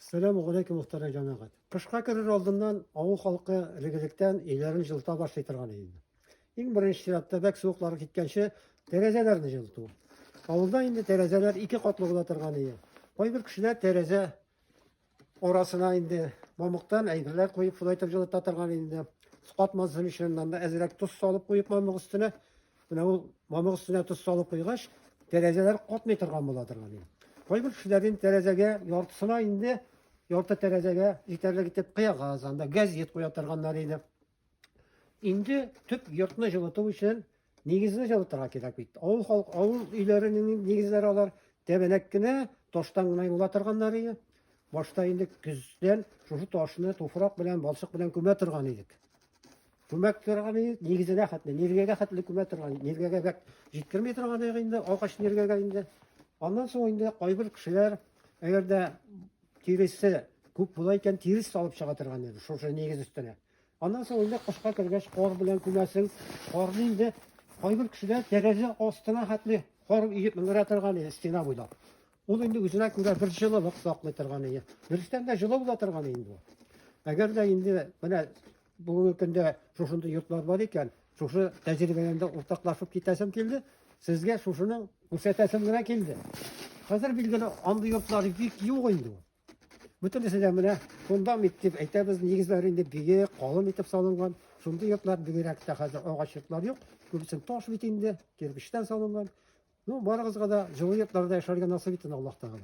Сәлам галәйкүм мөхтәрәм җәмәгать. Кышка керер алдыннан авыл халкы элегелектән өйләрен җылыта башлый торган иде инде. Иң беренче чиратта бәк суыклары киткәнче тәрәзәләрне җылыту. Авылда инде тәрәзәләр ике катлы була торган иде. Кайбер кешеләр тәрәзә арасына инде мамыктан әйберләр куеп шулай итеп җылыта торган иде. Катмасын өчен монда әзрәк тоз салып куеп мамык өстенә Менә ул мамык өстенә тоз салып куйгач, тәрәзәләр катмый торган була торган инде. Кайбер кешеләр инде тәрәзәгә яртысына инде ярты тәрәзәгә җитәрлек итеп кыягаз, анда газет куя торганнар иде. Инде төп йортны җылыту өчен нигезне җылытырга кирәк бит. Авыл халык, авыл өйләренең нигезләре алар тәбәнәк кенә, таштан гына юла торганнар иде. Башта инде көздән шушы ташны туфрак белән, балчык белән күмә торган идек. Күмәк торганы нигезенә хәтле, ниргәгә хәтле күмә торган, ниргәгә бәк җиткерми торган инде, агач ниргәгә инде. Аннан соң инде кайбер кешеләр, әгәр дә тиресе күп була икән, тирес салып чыга торган иде, шушы нигез өстенә. Аннан соң инде кышка кергәч, кар белән күмәсең, карны инде кайбер кешеләр тәрәзә астына хәтле кар иеп менгерә торган иде, стена буйлап. Ул инде үзенә күрә бер җылылык саклый торган иде. Дөрестән дә җылы була торган инде. Әгәр дә инде менә Бүгенге көндә шушында йортлар бар икән, шушы тәҗрибәдән дә уртаклашып китәсем килде. Сезгә шушының күрсәтәсем генә килде. Хәзер билгеле андый йортлар бик юк инде. Бөтенесе дә менә фундамент дип әйтәбез, нигезләре инде биек, калын итеп салынган. Шундый йортлар бигрәк тә хәзер агач йортлар юк. Күбесен таш бит инде, кирпичтән салынган. Ну, барыгызга да җылы йортларда яшәргә насыйп итсен Аллаһ Тәгалә.